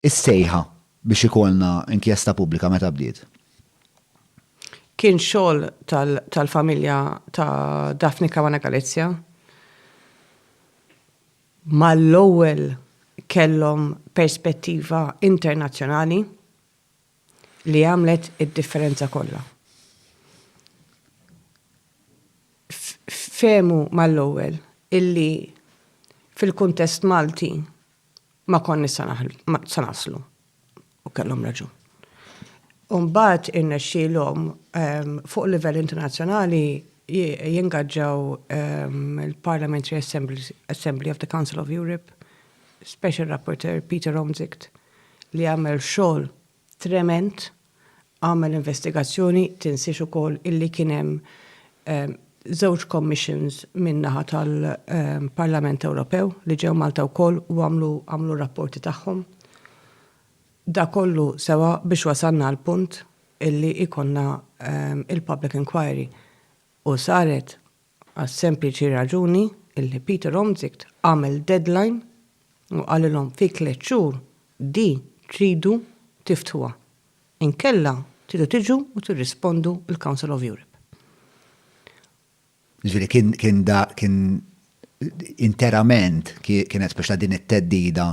Is-sejħa biex ikollna inkjesta pubblika meta bdiet? Kien xogħol tal-familja ta' Daphne Caruana Galizia. Mal-ewwel kellhom perspettiva internazzjonali li għamlet id-differenza kollha. Fehmu mal-ewwel illi fil-kuntest Malti, Ma konniex se naħlu, ma se naslu. U kellhom raġun. U mbagħad irnexxielhom ehm, fuq livell internazzjonali jingaġġaw ehm, il-Parliamentary Assembly, Assembly of the Council of Europe, Special Rapporteur Peter Omzicht, li għamel xogħol Trement, agħmel investigazzjoni, tinsiex ukoll illi kien hemm żewġ commissions min-naħa tal-Parlament Ewropew li ġew Malta wkoll u għamlu għamlu r-rapporti tagħhom. Dak kollu sewa biex wasalna għall-punt illi jkollna il-public inquiry u saret għas-sempliċi raġuni illi Pieter Omtzigt għamel deadline u qalilhom fi tliet xhur di tridu tiftħuha, inkella tridu tiġu u tirrispondu l-Council of Europe. Jiġifieri kien kien da kien interament kienet biex ta' din it-teddida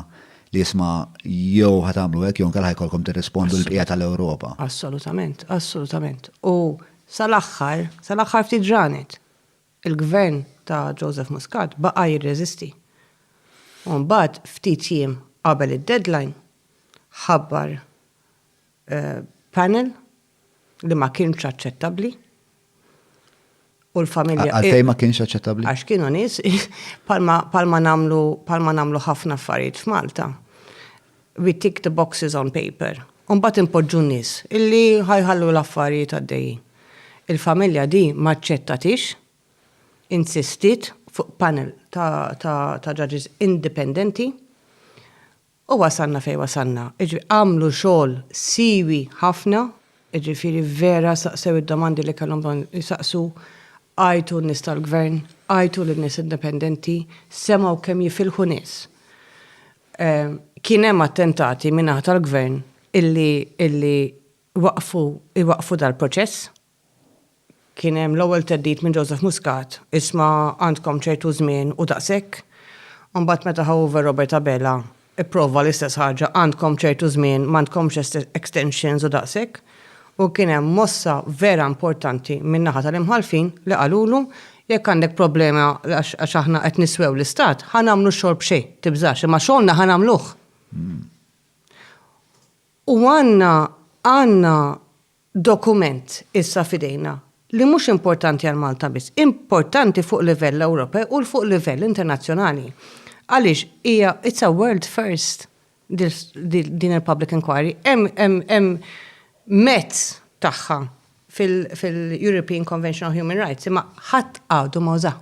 li jisma' jew ħatamlu hekk jew nkella ħajkolkom tirrispondu l-bqija tal-Ewropa. Assolutament, assolutament. U Sal-aħħar, sal-aħħar ftit ġranet, il-Gvern ta' Joseph Muscat baqa' jirreżisti. U mbagħad ftit jiem qabel id-deadline, ħabbar panel li ma kienx aċċettabbli u l-familja. Għalfejn ma kienx aċċettabbli? Għax kienu nies bħalma nagħmlu ħafna affarijiet f'Malta. We tick the boxes on paper u mbagħad inpoġġu n-nies illi ħa jħallu l-affarijiet għaddejjin. Il-familja di m'aċċettatiex, insistiet fuq panel ta' judges indipendenti u wasalna fejn wasalna. Jiġifieri għamlu xogħol siwi ħafna, jiġifieri vera saqsew id-domandi li kellhom bżonn isaqsu, għajtu n-nies tal-Gvern, għajtu lin-nies indipendenti, semgħu kemm jifilħu nies. Kien hemm attentati min-naħa tal-Gvern illi jwaqqfu dal-proċess. Kien hemm l-ewwel theddid minn Joseph Muscat, isma' għandkom ċertu żmien u daqshekk. Imbagħad meta ħa over Robert Abela, ipprova l-istess ħaġa, għandkom ċertu żmien, m'għandkomx extensions u daqshekk. U kien hemm mossa vera importanti min-naħa tal-imħallfin li qalulu, jekk għandek problema għax aħna qed niswew l-istat, ħa nagħmlu x-xogħol b'xejn, tibżax, imma xogħolna ħa nagħmluh. U għandna, għandna dokument issa f'idejna li mhux importanti għal Malta biss, importanti fuq livell Ewropew u fuq livell internazzjonali. Għaliex hija, it's a world first. din il-public inquiry, hemm mezz tagħha fil-European Convention on Human Rights, imma ħadd għadu ma uża.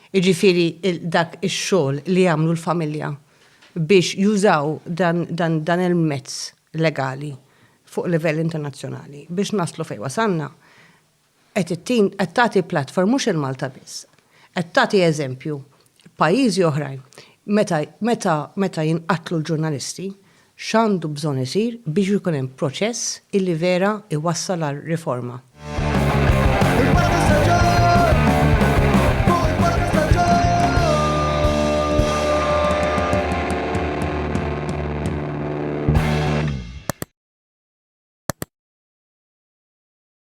Iġifieri dak ix-xogħol li jagħmlu l-familja biex jużaw dan il-mezz legali fuq livell internazzjonali biex naslu fejn wasalna, Qed ittin, qed tagħti platform mhux il Malta biss. Qed tagħti eżempju pajjiżi oħrajn meta meta meta jinqatlu l-ġurnalisti x'għandu bżonn isir biex ikun hemm proċess illi vera iwassal għal riforma.